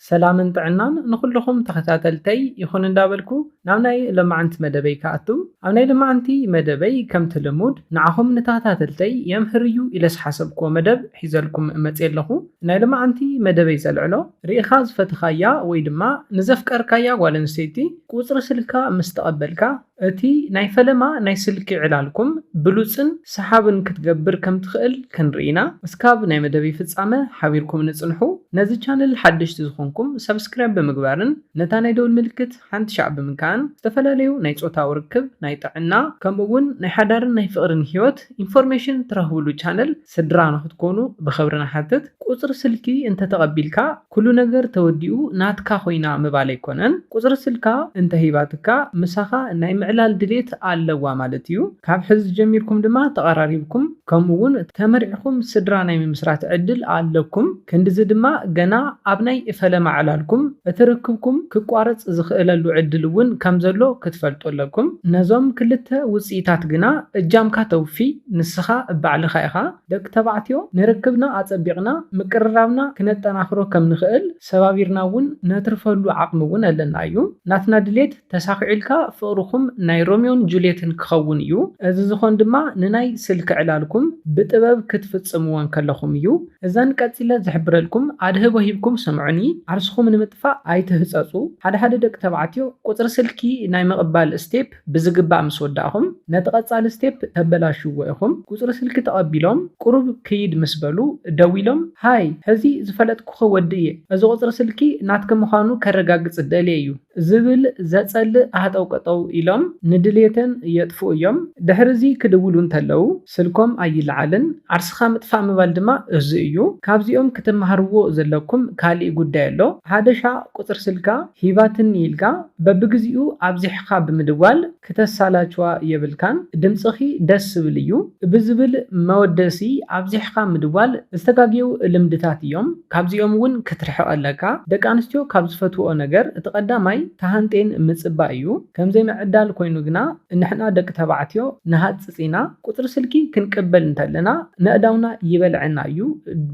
ሰላምን ጥዕናን ንኹሉኹም ተኸታተልተይ ይኹን እንዳበልኩ ናብ ናይ ለማዓንቲ መደበይ ክኣቱ ኣብ ናይ ለማዓንቲ መደበይ ከምቲ ልሙድ ንዓኹም ንታታተልተይ የምህር እዩ ኢለ ዝሓሰብኩዎ መደብ ሒዘልኩም መጽየ ኣለኹ ናይ ለማዓንቲ መደበይ ዘልዕሎ ሪኢኻ ዝፈተኻያ ወይ ድማ ንዘፍቀርካያ ጓል ኣንስተይቲ ቁጽሪ ስልካ ምስ ተቐበልካ። እቲ ናይ ፈለማ ናይ ስልኪ ዕላልኩም ብሉጽን ሰሓብን ክትገብር ከም ትኽእል ክንርኢ ኢና። እስካብ ናይ መደብይ ፍጻመ ሓቢርኩምኒ ጽንሑ። ነዚ ቻነል ሓደሽቲ ዝኾንኩም ሳብስክራይብ ብምግባርን ነታ ናይ ደውል ምልክት ሓንቲ ሻዕ ብምንካእን ዝተፈላለዩ ናይ ጾታዊ ርክብ፣ ናይ ጥዕና ከምኡ ውን ናይ ሓዳርን ናይ ፍቕርን ሂወት ኢንፎርሜሽን ትረኽብሉ ቻነል ስድራ ንክትኮኑ ብክብሪ ንሓትት። ቁጽሪ ስልኪ እንተ ተቀቢልካ ኩሉ ነገር ተወዲኡ ናትካ ኮይና ምባል ኣይኮነን ቁጽሪ ስልካ እንተ ሂባትካ ምሳካ ናይ ምዕላል ድሌት ኣለዋ ማለት እዩ ካብ ሕዚ ጀሚርኩም ድማ ተቀራሪብኩም ከምኡ ውን ተመርዕኩም ስድራ ናይ ምምስራት ዕድል ኣለኩም ክንድዚ ድማ ገና ኣብ ናይ ፈለማ ዕላልኩም እቲ ርክብኩም ክቋረጽ ዝኽእለሉ ዕድል እውን ከም ዘሎ ክትፈልጡ ኣለኩም። ነዞም ክልተ ውጽኢታት ግና እጃምካ ተውፊ ንስኻ ባዕልኻ ኢኻ። ደቂ ተባዕትዮ ንርክብና ኣጸቢቕና ምቅርራብና ክነጠናኽሮ ከም ንኽእል ሰባቢርና እውን ነትርፈሉ ዓቕሚ እውን ኣለና እዩ። ናትና ድሌት ተሳኺዑልካ ፍቕርኹም ናይ ሮምዮን ጁልየትን ክኸውን እዩ። እዚ ዝኾን ድማ ንናይ ስልኪ ዕላልኩም ብጥበብ ክትፍጽምዎ እንከለኹም እዩ። እዘን ቀጺለ ዝሕብረልኩም ኣድህቦ ሂብኩም ስምዑኒ፣ ዓርስኹም ንምጥፋእ ኣይትህጸጹ። ሓደ ሓደ ደቂ ተባዕትዮ ቁጽሪ ስልኪ ናይ ምቕባል ስቴፕ ብዝግባእ ምስ ወዳእኹም፣ ነቲ ቀጻሊ ስቴፕ ተበላሽዎ ኢኹም። ቁጽሪ ስልኪ ተቐቢሎም ቁሩብ ክይድ ምስ በሉ ደዊሎም ሃይ ሕዚ ዝፈለጥኩኺ ወዲ እየ፣ እዚ ቁጽሪ ስልኪ ናትኪ ምዃኑ ከረጋግጽ ደልየ እዩ። ዝብል ዘጸልእ ሃጠውቀጠው ኢሎም ንድልየተን የጥፍኡ እዮም። ድሕሪ'ዚ ክድውሉ እንተለዉ ስልኮም ኣይለዓልን። ዓርስኻ ምጥፋእ ምባል ድማ እዙይ እዩ። ካብዚኦም ክትመሃርዎ ዘለኩም ካሊእ ጉዳይ ኣሎ። ሃደሻ ቁጽሪ ስልካ ሂባትኒ ኢልካ በብግዚኡ ኣብዚሕኻ ብምድዋል፣ ክተሳላችዋ የብልካን ድምጽኺ ደስ ዝብል እዩ ብዝብል መወደሲ ኣብዚሕኻ ምድዋል ዝተጋግየው ልምድታት እዮም ካብዚኦም እውን ክትርሕቅ ኣለካ ደቂ ኣንስትዮ ካብ ዝፈትውኦ ነገር እቲ ቀዳማይ ተሃንጥየን ምጽባይ እዩ ከምዘይ ምዕዳል ኮይኑ ግና ንሕና ደቂ ተባዕትዮ ንሃጽጽ ኢና ቁጽሪ ስልኪ ክንቅበል እንተለና ነእዳውና ይበልዐና እዩ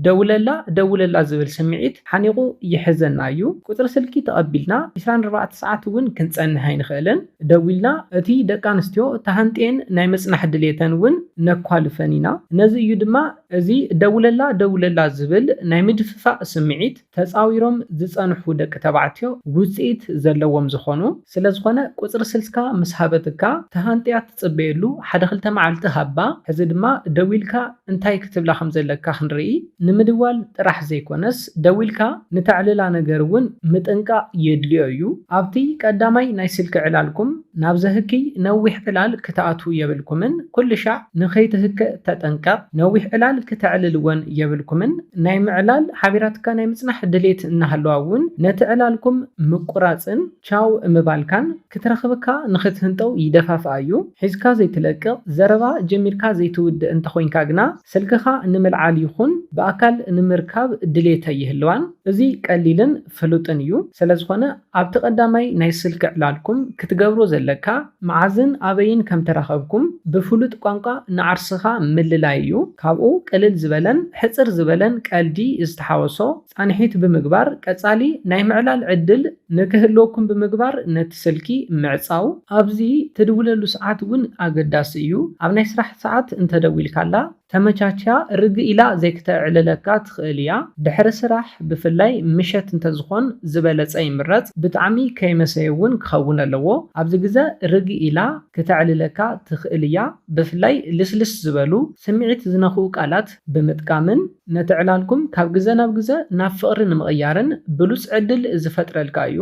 ደውለላ ደውለላ ዝብል ስምዒት ሓኒቁ ይሕዘና እዩ ቁጽሪ ስልኪ ተቀቢልና ዕስራን ኣርባዕተ ሰዓት እውን ክንጸንሕ ኣይንኽእልን ደዊልና እቲ ደቂ ኣንስትዮ ተሃንጥየን ናይ ምጽናሕ ድሌተን እውን ነኳልፈን ኢና። ነዚ እዩ ድማ እዚ ደውለላ ደውለላ ዝብል ናይ ምድፍፋእ ስምዒት ተጻዊሮም ዝጸንሑ ደቂ ተባዕትዮ ውጽኢት ዘለዎም ዝኾኑ። ስለዝኾነ ቁጽሪ ስልካ ምስ ሃበትካ ተሃንጥያ ትጽበየሉ ሓደ ክልተ መዓልቲ ሃባ ሕዚ ድማ ደዊልካ እንታይ ክትብላ ከም ዘለካ ክንርኢ ንምድዋል ጥራሕ ዘይኮነስ ደዊልካ ንተዕልላ ነገር እውን ምጥንቃቕ የድልዮ እዩ። ኣብቲ ቀዳማይ ናይ ስልኪ ዕላልኩም ናብ ዘህክይ ነዊሕ ዕላል ክትኣትዉ የብልኩምን ኩልሻዕ ንከይትህከእ ተጠንቀቕ ነዊሕ ዕላል ክተዕልል እውን የብልኩምን ናይ ምዕላል ሓቢራትካ ናይ ምጽናሕ ድሌት እናሃለዋ እውን ነቲ ዕላልኩም ምቁራጽን ቻው ምባልካን ክትረኽብካ ንኽትህንጠው ይደፋፍኣ እዩ። ሒዝካ ዘይትለቅቕ፣ ዘረባ ጀሚርካ ዘይትውድእ እንተኾይንካ ግና ስልክኻ ንምልዓል ይኹን ብኣካል ንምርካብ ድሌት ኣይህልዋን። እዚ ቀሊልን ፍሉጥን እዩ። ስለዝኾነ ኣብቲ ቀዳማይ ናይ ስልኪ ዕላልኩም ክትገብሮ ዘለካ መዓዝን ኣበይን ከምተራኸብኩም ብፍሉጥ ቋንቋ ንዓርስኻ ምልላይ እዩ። ካብኡ ቅልል ዝበለን ሕጽር ዝበለን ቀልዲ ዝተሓወሶ ፃንሒት ብምግባር ቀፃሊ ናይ ምዕላል ዕድል ንክህልወኩም ብምግባር ነቲ ስልኪ ምዕፃው። ኣብዚ ትድውለሉ ሰዓት እውን ኣገዳሲ እዩ። ኣብ ናይ ስራሕ ሰዓት እንተደዊልካላ ተመቻችያ ርግእ ኢላ ዘይክተዕልለካ ትኽእል እያ። ድሕሪ ስራሕ ብፍላይ ምሸት እንተዝኾን ዝበለፀ ይምረፅ። ብጣዕሚ ከይመሰየ እውን ክኸውን ኣለዎ። ኣብዚ ግዘ ርግእ ኢላ ክተዕልለካ ትኽእል እያ። ብፍላይ ልስልስ ዝበሉ ስምዒት ዝነኽኡ ቃላት ብምጥቃምን። ነቲ ዕላልኩም ካብ ግዘ ናብ ግዘ ናብ ፍቕሪ ንምቕያርን ብሉፅ ዕድል ዝፈጥረልካ እዩ።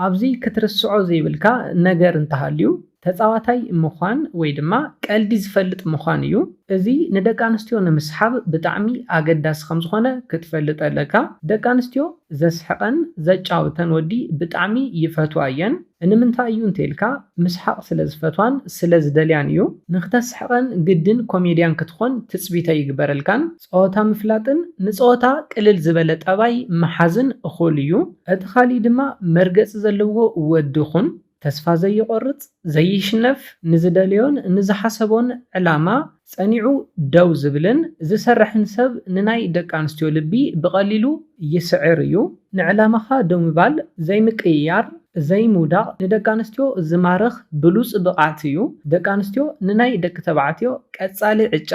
ኣብዚ ክትርስዖ ዘይብልካ ነገር እንተሃልዩ ተፃዋታይ ምዃን ወይ ድማ ቀልዲ ዝፈልጥ ምዃን እዩ። እዚ ንደቂ ኣንስትዮ ንምስሓብ ብጣዕሚ ኣገዳሲ ከምዝኾነ ክትፈልጥ ኣለካ። ደቂ ኣንስትዮ ዘስሕቐን ዘጫውተን ወዲ ብጣዕሚ ይፈትዋ እየን። እንምንታይ እዩ እንተይልካ ምስሓቕ ስለ ዝፈትዋን ስለ ዝደልያን እዩ። ንክተስሕቐን ግድን ኮሜድያን ክትኾን ትጽቢት ኣይግበረልካን። ጸወታ ምፍላጥን ንጸወታ ቅልል ዝበለ ጠባይ ምሓዝን እኹል እዩ። እቲ ካልእ ድማ መርገጺ ዘለዎ ወዲ ኩን። ተስፋ ዘይቖርጽ፣ ዘይሽነፍ፣ ንዝደለዮን ንዝሓሰቦን ዕላማ ጸኒዑ ደው ዝብልን ዝሰርሕን ሰብ ንናይ ደቂ ኣንስትዮ ልቢ ብቐሊሉ ይስዕር እዩ። ንዕላማኻ ደው ምባል፣ ዘይምቅይያር፣ ዘይምውዳቕ ንደቂ ኣንስትዮ ዝማርኽ ብሉጽ ብቕዓት እዩ። ደቂ ኣንስትዮ ንናይ ደቂ ተባዕትዮ ቀጻሊ ዕጫ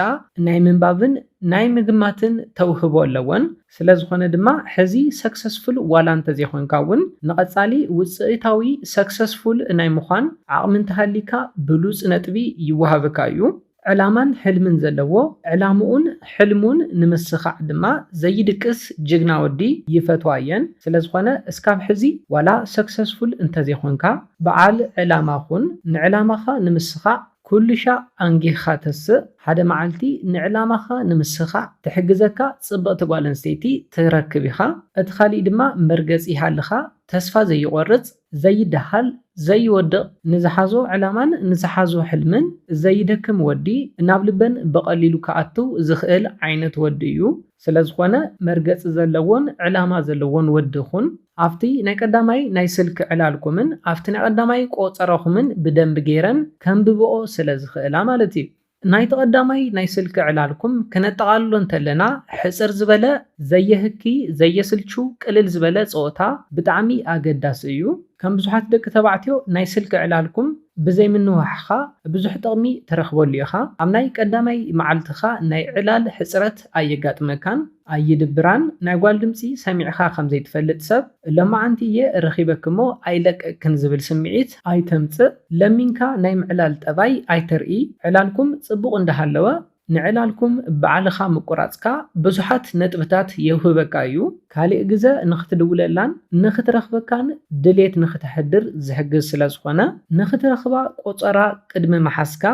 ናይ ምንባብን ናይ ምግማትን ተውህቦ ኣለወን። ስለዝኾነ ድማ ሕዚ ሰክሰስፉል ዋላ እንተዘይኾንካ እውን ንቐፃሊ ውፅኢታዊ፣ ሰክሰስፉል፣ ናይ ምዃን ዓቕሚ እንተሃልይካ ብሉፅ ነጥቢ ይወሃብካ እዩ። ዕላማን ሕልምን ዘለዎ ዕላምኡን ሕልሙን ንምስኻዕ ድማ ዘይድቅስ ጅግና ወዲ ይፈትዋ እየን። ስለዝኾነ እስካብ ሕዚ ዋላ ሰክሰስፉል እንተዘይኾንካ በዓል ዕላማ ኹን፣ ንዕላማኻ ንምስኻዕ ኩሉሻዕ ኣንጊህኻ ተስእ፣ ሓደ መዓልቲ ንዕላማኻ ንምስኻዕ ትሕግዘካ ጽብቕቲ ጓል ኣንስተይቲ ትረክብ ኢኻ። እቲ ካሊእ ድማ መርገጺ ይሃልኻ፣ ተስፋ ዘይቖርጽ፣ ዘይደሃል፣ ዘይወድቕ፣ ንዝሓዞ ዕላማን ንዝሓዞ ሕልምን ዘይደክም ወዲ፣ ናብ ልበን ብቐሊሉ ክኣትው ዝኽእል ዓይነት ወዲ እዩ። ስለዝኾነ መርገጺ ዘለዎን ዕላማ ዘለዎን ወዲ ኩን። ኣብቲ ናይ ቀዳማይ ናይ ስልኪ ዕላልኩምን ኣብቲ ናይ ቀዳማይ ቆጸራኹምን ብደንቢ ገይረን ከንብብኦ ስለ ዝኽእላ ማለት እዩ። ናይቲ ቀዳማይ ናይ ስልኪ ዕላልኩም ክነጠቓልሎ እንተለና ሕጽር ዝበለ፣ ዘየህኪ፣ ዘየስልቹ፣ ቅልል ዝበለ ጸወታ ብጣዕሚ ኣገዳሲ እዩ። ከም ብዙሓት ደቂ ተባዕትዮ ናይ ስልኪ ዕላልኩም ብዘይ ምንውሓኻ ብዙሕ ጥቕሚ ትረኽበሉ ኢኻ። ኣብ ናይ ቀዳማይ መዓልትኻ ናይ ዕላል ሕጽረት ኣየጋጥመካን። ኣይድብራን ናይ ጓል ድምጺ ሰሚዕኻ ከም ዘይትፈልጥ ሰብ ሎማዓንቲ እየ ረኺበኪ እሞ ኣይለቅቅክን ዝብል ስምዒት ኣይተምጽእ ለሚንካ ናይ ምዕላል ጠባይ ኣይተርኢ ዕላልኩም ጽቡቕ እንዳሃለወ ንዕላልኩም ባዕልኻ ምቁራጽካ ብዙሓት ነጥብታት የውህበካ እዩ ካሊእ ግዘ ንኽትድውለላን ንኽትረኽበካን ድሌት ንኽተሕድር ዝሕግዝ ስለዝኾነ ንኽትረኽባ ቆጸራ ቅድሚ ምሓዝካ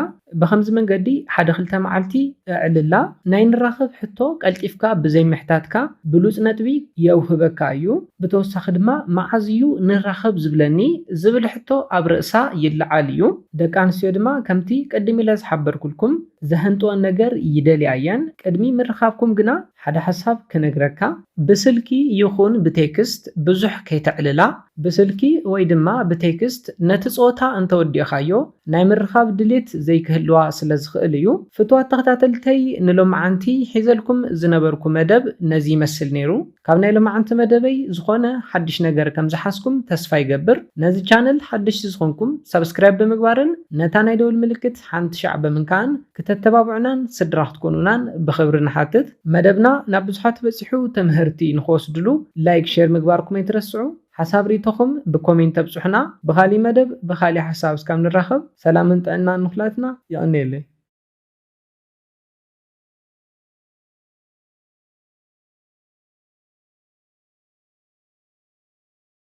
ብኸምዚ መንገዲ ሓደ ክልተ መዓልቲ ኣዕልላ፣ ናይ ንራኸብ ሕቶ ቀልጢፍካ ብዘይምሕታትካ ብሉጽ ነጥቢ የውህበካ እዩ። ብተወሳኺ ድማ መዓዝ እዩ ንራኸብ ዝብለኒ ዝብል ሕቶ ኣብ ርእሳ ይለዓል እዩ። ደቂ ኣንስትዮ ድማ ከምቲ ቅድም ኢለ ዝሓበርኩልኩም ዘሀንጥወን ነገር ይደልያ እየን። ቅድሚ ምርኻብኩም ግና ሓደ ሓሳብ ክነግረካ። ብስልኪ ይኹን ብቴክስት ብዙሕ ከይተዕልላ። ብስልኪ ወይ ድማ ብቴክስት ነቲ ጸወታ እንተወዲእኻዮ ናይ ምርኻብ ድሌት ዘይክህልዋ ስለ ዝኽእል እዩ። ፍቱዋት ተኸታተልተይ ንሎምዓንቲ ሒዘልኩም ዝነበርኩ መደብ ነዚ ይመስል ነይሩ። ካብ ናይ ሎምዓንቲ መደበይ ዝኾነ ሓድሽ ነገር ከም ዝሓዝኩም ተስፋ ይገብር። ነዚ ቻነል ሓደሽቲ ዝኾንኩም ሳብስክራይብ ብምግባርን ነታ ናይ ደወል ምልክት ሓንቲ ሻዕ ብምንካእን ክተተባብዑናን ስድራ ክትኮኑናን ብኽብሪ ንሓትት። መደብና ናብ ብዙሓት በጺሑ ተመሀርቲ ንኽወስድሉ ላይክ ሼር ምግባርኩም ኣይትረስዑ። ሓሳብ ሪኢቶኹም ብኮሜንት ኣብፁሑና ብኻሊእ መደብ ብኻሊእ ሓሳብ እስካብ ንራኸብ ሰላምን ጥዕናን ንኹላትና የቐንየለይ።